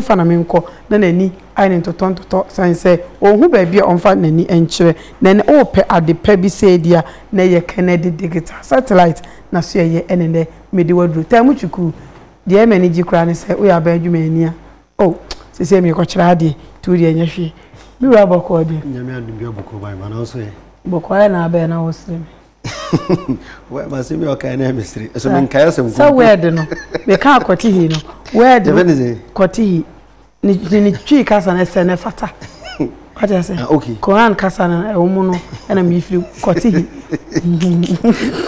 fa na menkɔ na n'ani ayɛ no ntotɔntotɔ sane sɛ ɔnhu baabi a ɔmfa n'ani nkyerɛ na ɛnɛ ɔrepɛ ade pa bi sɛ ebia na ɛyɛ Kennedy digital satellite na so ɛyɛ ɛne nnɛ mede wo aduru Taamu Chuku deɛ ɛma ani gye koraa ne sɛ woyɛ aban adwumani a oh sesei merekɔkyerɛ adeɛ nti wo deɛ ɛnyɛ hwee me wura bɔkɔɔ deɛ Nyame adom bi abɔkɔɔ baa ma nanso ɛ bɔkɔɔ ayɛ na abɛɛ na wosere me Wɛ ma se mi ɔkan na mi sere. Ɛsɛ mi nkae asɛm kunkun. Sɛ wɛɛde no, mi ka akɔte hi no. Wɛɛde no kɔte hi. Ne ne twi kasa no ɛsɛ ne fata. Wate ase? Ah, okay. Koran kasa no ɛwɔ mu no ɛna mi firi kɔte hi.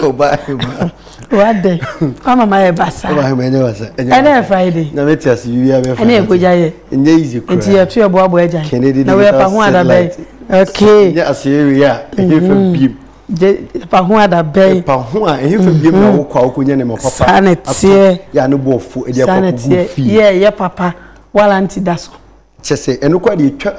Ɔba ɛma. Wade. Ama ma yɛ basa. Ɔba ɛma ɛnyɛ basa. Ɛna yɛ Friday. Na mi ti ase yi abɛ Friday. Ɛna yɛ kogya yɛ. Ɛnyɛ easy kura. Nti yɛ to yɛ boaboa ɛgya. Kennedy digital satellite. Na wɛ pa ho adabɛ. Okay. Ɛnyɛ ase yɛ wi a. Ɛnyɛ fɛ biem. ɛpa ho ada bɛn ɛpa ho a ɛhefa biem na mhm. wokɔ a wokɔnya nneɛma papa saa na teɛ yɛ a ne boɔ fo ɛde akɔ kogu fie yɛ yɛ papa walanti da so kyɛ sɛ ɛno kɔ de ɛtwa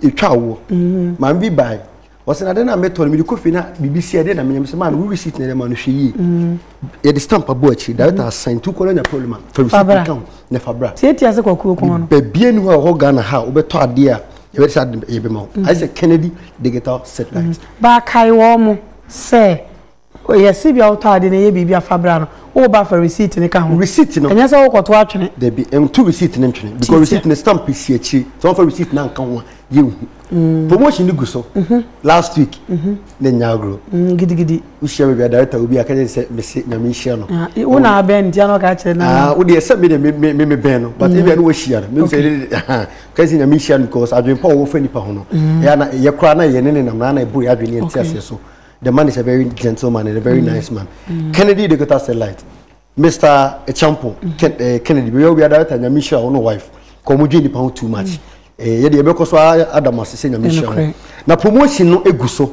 ɛtwa awoɔ mhm. maame bi bae wɔsɛ na de na metɔ no mede kɔ fie na biribi si ɛde na menyɛ mesɛ maa no wo receipt na ɛde ma no hwɛ yie mhm. yɛde stamp abɔ akyiri director asan tu kɔla nya problem a fa receipt ka ho na fa bra tiatia sɛ kɔkuro kɔn no baabi ani hɔ a ɛhɔ ghana ha a wobɛtɔ adeɛ a yɛbɛde sɛ ade yɛbɛma wo ayɛ sɛ kennedy digital satellite mm. baakae wɔ mo sɛ yɛse bia wotɔ ade no yɛ biribi afa bra no woba fa receipt no ka ho receipt no ɛnyɛ sɛ wokɔto atwene dabi ɛnto receipt no ntwene because receipt no stamp si akyiri sɛ wɔfa receipt no anka ho a yɛnhu mm. promotion no gu so mm-hmm. last week mm-hmm. ne nya agorɔ mm, gidigidi wohyia baabi a director wo bi a ka kyerɛ sɛ mese nyame nhyira no ah, wo na abɛn ntia no ka kyerɛ no ah, wo deɛ sɛ me deɛ me bɛn no but ebia ne wahyia no mehu sɛ ka sɛ nyame nhyira no because adwene pa wɔwɔ fa nnipa ho no mm. ɛyɛ na ɛyɛ koraa na yɛne ne nam na na ɛboro yɛ adwene ɛnte aseɛ so the man is a very gentleman and a very mm. nice man mm. kennedy de kota sɛ light mr echampo eh, kennedy bɛyɛ obi a director nyame nhyira wo no wife kɔ mo dwe nnipa ho too much eh, yɛde yɛbɛkɔ so adam ase sɛ nyame nhyira ho na promotion no egu so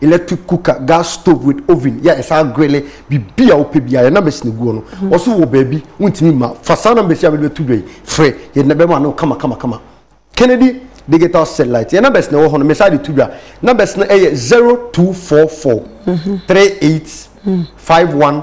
electric cooker gas stove with oven yɛ ɛsan grele biribi a wopɛ biara yɛ numbers na egu hɔ no wɔso wɔ baabi wontumi ma fa saa numbers yi a wɔde bɛto dwa yi frɛ yɛ na bɛma no kama kama kama kennedy digital satellite yɛ numbers na ɛwɔ hɔ no mesa de to dwa numbers no ɛyɛ zero two four four three eight five one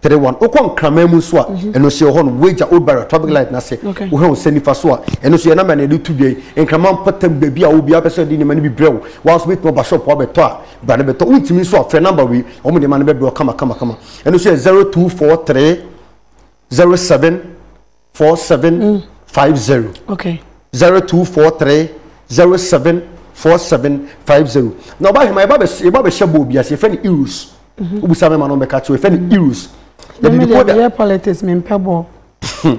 three one wokɔ nkraman mu nso a mhm. ɛno nso yɛ hɔ no wagya old barrier traffic light no ase wohwɛ wo sɛ nifa so a ɛno nso yɛ nama na yɛde to dwa yi nkraman mpɔtam baabi a obiara bɛ sɛ ɔde nneɛma no bi brɛ wo woa nso bɛtumi ɔba shop wabɛtɔ a bra no bɛtɔ wontumi nso a frɛ number wei wɔn nneɛma no bɛbrɛ kama kama kama ɛno nso yɛ zero two four three zero seven four seven mm. five zero. okay. zero two four three zero seven four seven five zero na ɔba ahema yɛba bɛ yɛba bɛ hyɛ bɔɔl bi ase yɛfɛ no euros wobusa mi ma no bɛka kyerɛ yɛfɛ no euros yɛde decoder yɛ politics mi mpɛ bɔɔl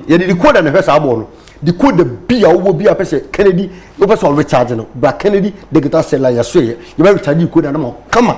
yɛde decoder na ɛhwɛ saa bɔɔl no decoder bi a wowɔ bi a pɛ sɛ kennedy wopɛ sɛ ɔrecharge no bra kennedy digital cell a yɛso yɛ yɛbɛ recharge decoder no ma kama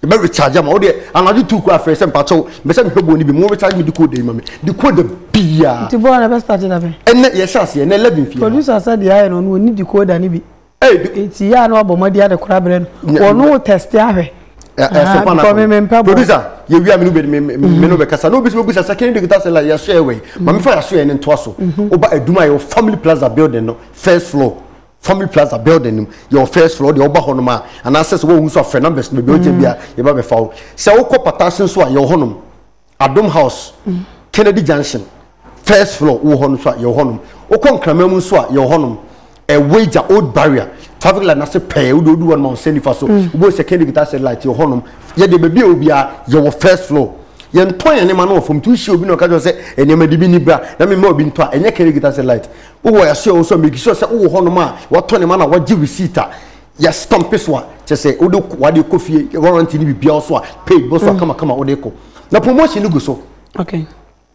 yɛbɛ recharge ama wo deɛ anadwo tu kura afei sɛ mpakyɛw mɛ sɛ mehwɛ bɔɔl no bi mu recharge mi decoder yi ma me decoder biara. nti bɔɔl na bɛ start da bɛn. ɛnɛ yɛ hyɛ aseɛ ɛnɛ eleven fia. producer sɛ deɛ ayɛ no ɔno ɔni decoder no bi. nti yɛ a na wabɔ mmɔden ade kora berɛ no wɔno test ahwɛ. ɛsɛ kwan akɔ no producer yɛ wia mene bɛ mene bɛ kasa na obi sɛ obusa sɛ kɛnɛ de guitar sɛla yɛ so ɛwɛ maame fa yɛ so yɛ ne ntoa so ɔba aduma yɛ wɔ family plaza building no first floor Family Plaza building no yɛ wɔ first floor deɛ ɔba hɔnom a anaasɛ sɛ wɔhu nso afrɛ numbers no baabi ɔgyina bia yɛba bɛfa wo sɛ wokɔ patase nso a yɛwɔ hɔnom Adom House Kennedy Junction first floor wɔ hɔ no nso a yɛwɔ hɔnom wokɔ Nkrama mu nso a yɛwɔ hɔnom ɛwagya Old Barrier traffic light n'ase pɛɛ wode odu hɔ no ma wo sɛ nifa so wobɔ sɛ Kennedy guitar set light yɛwɔ hɔnom yɛde baabi a obiara yɛwɔ first floor yɛntɔn yɛn nneɛma no wɔ fam nti wohyia obi na ɔka kyerɛ sɛ nneɛma de bi ni bra na mema obi ntɔ a ɛnyɛ Kennedy guitar set light wowɔ ɛso ɛwɔ so make sure sɛ wowɔ hɔnom a wɔtɔ ne ma na wɔgye receipt a yɛstampe so a kyɛ sɛ wode wade kɔ fie warranty ne biribiara so a paid bɔ so a mm. kamakama wode kɔ na promotion no gu so okay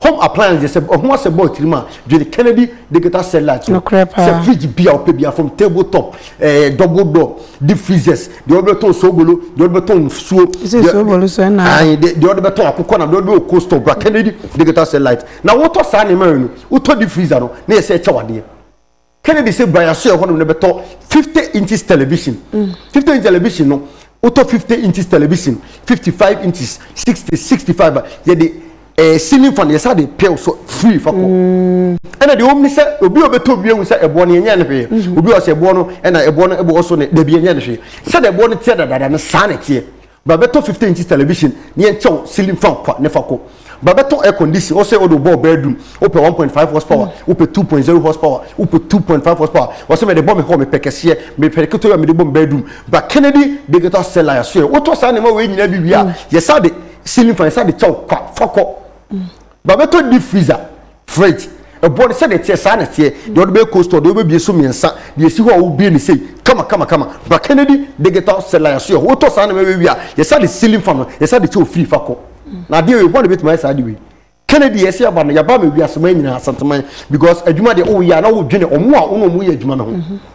home appliance sɛ ɔho asɛ bɔɔl tirim a dwene kennedy digital satellite so sɛ fridge bi a wopɛ bia from table top ɛɛ eh, double door deep freezers deɛ wɔde bɛtɔn sobolo deɛ wɔde bɛtɔn nsuo deɛ wɔde bɛtɔn akokɔ na deɛ wɔde bɛtɔn coastal bra kennedy digital satellite na wotɔ saa nneɛma yɛn no Wotɔ deep freezer no na yɛsɛ ɛkyɛ wadeɛ. Kennedy sɛ Brian Soyɛ hɔnom no bɛtɔ fifty inches television. Mm. Fifty inches television no wotɔ fifty inches television fifty five inches sixty sixty five yɛde ɛɛ eh, ceiling fan yɛsa de pɛl so free fa kɔ. Mm. Ɛna deɛ wɔn ni sɛ obi a ɔbɛtɔ obi ehu sɛ ɛboɔ no yɛnyɛ ne hwee. Mm-hmm. Obi a ɔsɛ ɛboɔ no ɛna ɛboɔ no ɛbɔ ɔso ne dabi yɛnyɛ ne hwee. Sɛ de ɛboɔ no teɛ dadaada no saa na ɛteɛ. Bra bɛtɔ 15 inches television na yɛnkyɛw ceiling fan kwa ne fa kɔ. Bra bɛtɔ air condition, ɔsɛ ɔde ɔbɔɔ bedroom, wopɛ 1.5 horsepower, wopɛ 2.0 horsepower, wopɛ 2.5 horsepower, ɔsɛ mede bɔ me hɔ, mepɛ kɛseɛ, mepɛ ketewa a mede bɔ me bedroom. Bra Kennedy Digital Cellar yɛaso yɛ. Wotɔ saa nneɛma wei nyinaa bi wie a, yɛsa de ceiling fan yɛsa de kyɛw kwa fa kɔ. Babɛtɔ deep freezer, fridge, ɛboɔ no sɛdeɛ ɛteɛ saa na ɛteɛ, deɛ ɔde bɛyɛ cold store, deɛ wobɛbie so mmiɛnsa, deɛ ɛsi hɔ a wobie no sei, kama kama kama, bra Kennedy digital seller yɛn so yɛ hɔ, wotɔ saa nneɛma wei wie a yɛsa de ceiling fan no yɛsa de kyɛ wo free fa kɔ, na adeɛ wei hwan na ɛbɛtumi ayɛ saa adeɛ wei? Kennedy yɛsi yɛaba no yɛaba ama wiase man nyinaa, Asanteman, because adwuma deɛ woyɛ a na wodwene ɔmo a wo ne ɔmo yɛ adwuma no ho.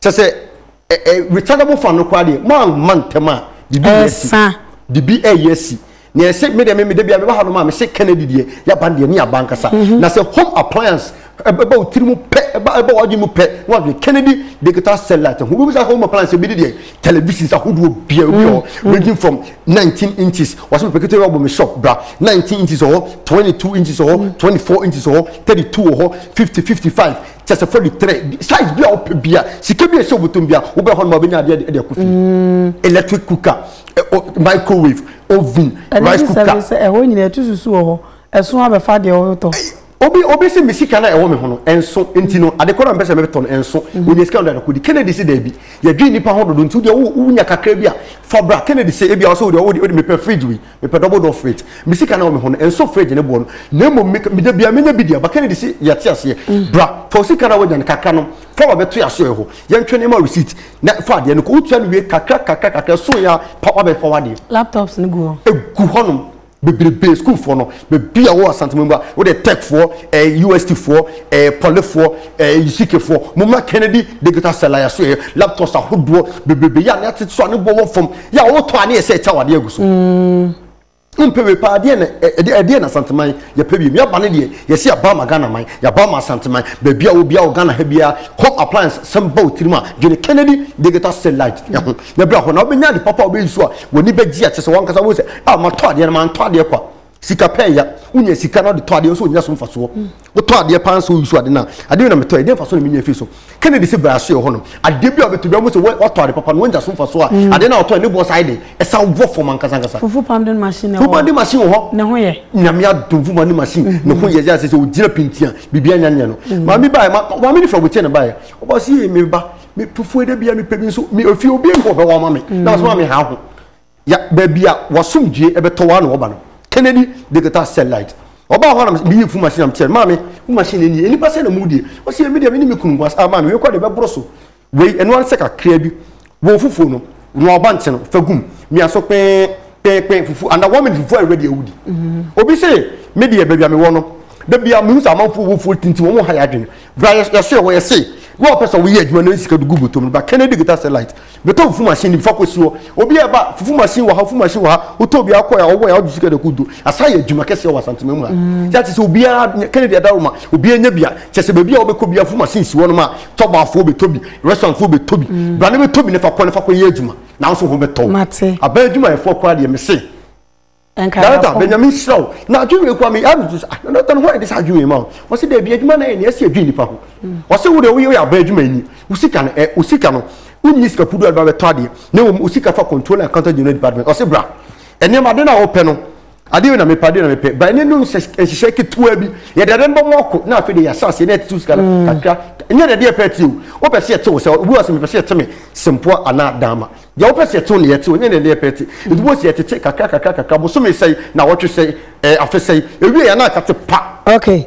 kyɛ sɛ ɛ ɛ retardable fan no koraa deɛ maa ma ntɛm a bibi yɛ si bibi ɛyɛ si na ɛsɛ mi deɛ mi mi de bi a mi ba ha nom a mi se kennedy deɛ yaba deɛ ne yaba nkasa mhm. na sɛ home appliance ɛbɛ o tiri mu pɛ ɛbɛ ɛbɛ ɔdi mu pɛ na ɔdi kennedy digital satellite ho obi sa home appliance ebi de deɛ television sa ahodoɔ bia obi wɔ mhm. ranging from nineteen inches wɔsɛ pɛpɛ kete ɔbɔ mi shop bra nineteen inches wɔ hɔ twenty two inches wɔ hɔ mhm. twenty four inches wɔ hɔ thirty two wɔ hɔ fifty fifty five. kyɛ sɛ fɔ de trɛ size bi a wopɛ bi a sika bi a ɛsɛ wobɛtɔm bi a wobɛ hɔ no ma wobɛnya adeɛ de akɔ fie mm. electric cooker eh, oh, microwave oven rice cooker ɛne sɛ ɛhɔ nyina ɛto susu wɔ hɔ ɛso abɛfa deɛ wotɔ obi obi sɛ me sika na ɛwɔ me ho no ɛnso nti no ade kɔrɔ mpɛ sɛ mɛtɔ no ɛnso mhm. wɔnyɛ sika no adakodi kennedy sɛ daabi yɛdwe nnipa ho dodo nti wodeɛ wonya kakra bi a fa bra kennedy sɛ ebi a wɔ sɛ wodeɛ wode mepɛ fridge wei Mepɛ double door fridge. Me sika na wɔ me ho no, ɛnsɔ fridge no boɔ no. Na mmom me, da biara menya bi di a, Bakari de si deɛ ɔte aseɛ. Bra, fa wo sika no a woanya no kakra no fa ma bɛto yɛn asoɛeɛ hɔ. Yɛntwɛn na yɛma wo receipt. Na fa adeɛ no kɔ. Wotua no wie kakra kakra kakra, ɛso yɛ a, pa woabɛfa w'adeɛ. Laptops no gu hɔ? Ɛgu hɔnom bebrebe. Sukuufoɔ no, baabi a wɔ Asante Mangu a, wo deɛ Techfoɔ, eh, USTfoɔ, eh, Polyfoɔ, eh, Isikefoɔ, mommra Kennedy Digital Cell a yɛasoɛeɛ laptops ahodoɔ bebrebe yɛ a na yɛatete so a ne boɔ wɔ fam. yɛ a wotɔ a ne yɛ sɛ ɛkyɛ wade agu so wompɛ wei paa deɛ na ɛdeɛ na asanteman yɛpɛ wiem yɛaba no deɛ yɛsɛ yɛba ma ghana man yɛba ma asanteman baabi a wobia wɔ ghana ha biara kɔ appliance sɛm ba wo tirim a dwene kennedy digital satellite ɛho na bra hɔ na wobɛnya ade papa wobɛyi so a w'ani bɛgye a kyɛ sɛ wankasa wo sɛ a matɔ adeɛ no mantɔ adeɛ kwa sika pɛ ya wonya sika na ɔde tɔ adeɛ nso ɔnya so mfasoɔ hmm. wotɔ adeɛ paa nso woyi so ade no a adeɛ na metɔ ɛdeɛ mfasoɔ na menya firi so kennedy sɛ bra so yɛ hɔ no adeɛ bi a wobɛtɔ bi a wobɛsɛ watɔ ade papa no wonya so mfasoɔ a hmm. adeɛ no a wɔtɔ ne boɔ saa de ɛsan wɔ fam ankasa ankasa fufu pounding machine fufu pounding machine wɔ hɔ ne ho yɛ nyame adom fufu pounding machine hmm. ne ho yɛ yɛ sɛ sɛ ɔgyina pintia biribi anya nyɛ no maame baɛ maame ne fɛ wɔkyɛ ne baɛ ɔba sɛ yɛ meba me fufuo da bia mepɛ bi nso me ofie obi nkɔ ɔbɛwɔ ma me na ɔsoma me ha ho Ya, baabi a w'asomdwie bɛtɔ wo ara na wɔba no. Kennedy Digital Cell Light. Ɔbaa hɔ a na me, meyii fun machine na mekyerɛɛ no, Maame, wo machine no nie, nnipa sɛn na wɔdie? Ɔse, Yɛ, me deɛ me ne me kunu nko ara. Ah, Maame, wei koraa deɛ ɛbɛboro so. Wei, ɛno ara ne sɛ kakraa bi. Bɔ fufuo no, noa ɔba nkye no, fa gu mu, mia so kpee, kpee, kpee, fufuo, under one minute fufuo ayɛ ready a wodi. Obi se, Me deɛ, baabi a mewɔ no, da biara mehu sɛ amanfoɔ wɔ fufuo tintim, wɔn ha yɛ adwene. Bra, yɛ, yɛsoɛ hɔ, yɛse, na wɔpɛ sɛ wɔyɛ adwuma na yɛde sika de gu bɔtɔ mu no, ba, Kennedy Digital Cell Light, Bɛtɔ fufu machine ni bifa kɔsi hɔ obi a ɛba fufu machine wɔ ha fufu machine wɔ ha wotɔ obi akɔ ya ɔwɔ ya ɔgye sika de ko do asa yɛ adwuma kɛseɛ wɔ asantema mu ha mm. yɛ ate sɛ obiara kennedy adaro ma obiara nya bia kyɛ sɛ baabi a wobɛkɔ bia fufu machine si hɔ no ma tɔbaafoɔ bɛtɔ bi restaurantfoɔ bɛtɔ bi mm. bra ne bɛtɔ bi ne fa kɔ ne fa kɔ yɛ adwuma na wo so ho bɛtɔ abɛn adwumayɛfoɔ koraa deɛ mese Jonathan bɛ nyame nhyira wo na adwene wei koa me yɛ me sɛ ah Jonathan hɔ ɛde sɛ adwene wei ma wo wɔsɛ daabi adwuma na yɛ nea ɛsi adwene nipa ho wɔsɛ wo de woyɛ woyɛ aba adwuma ni wo sika no ɛ wo sika no wonni sika kudu adwuma bɛtɔ adeɛ na wɔn wo sika fa control and counter general department wɔsɛ bra nneɛma ade na wɔpɛ no adeɛ wei na mepɛ adeɛ na mepɛ ba ɛne no nhyehyɛ ketewa bi yɛde ɛde no bɔ mo ɔko na afei de yɛ asase na ɛte wo sika no mm. kakra nyɛ deɛ deɛ pɛ te o wopɛ sɛ yɛte wo sɛ obi wɔ sɛ mepɛ sɛ yɛte me sempoa anaa dama Deɛ wopɛ sɛ ɛtew ne yɛtew, ɛnyɛ deɛ ne yɛpɛ te. Nti wobɛhu sɛ yɛtete kakra kakra kakra, bosome sɛe, naawɔtwe sɛe, ɛɛ afe sɛe, ɛwieɛ a na aka te pa. Ok,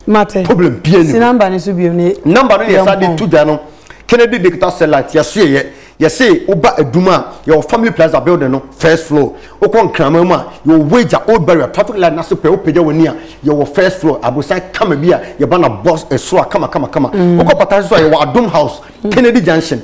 mate. Problem biaa nni ho. Si number no so bio ne yɛmpɔn. Number no ne yɛsan de to dwa no, Kennedy Digital Satellite, yɛsoɛeɛ. Yɛse woba Adum a, yɛwɔ Family Plaza building no first floor. Wokɔ Nkraman mu a, yɛwɔ Wagya, Old Barrier, traffic light no ase pɛɛ, wopagya w'ani a, yɛwɔ first floor, abosan kama bi a yɛba no abɔ soro a kama kama kama. Wokɔ Pataase nso a, yɛwɔ Adom House, Kennedy Junction.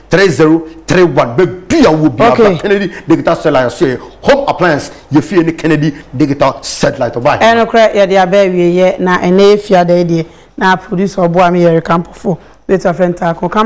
three zero three one baabi a wɔ bia ba kennedy digital satellite nso yɛ home appliance yɛ fie ne kennedy digital satellite ɔbaa yɛ. ɛnokorɛ yɛde aba awieɛ na ɛnɛ yɛ fiada yi deɛ na producer ɔboa me yɛreka mpɔfoɔ bɛtu afrɛ ntaako camera.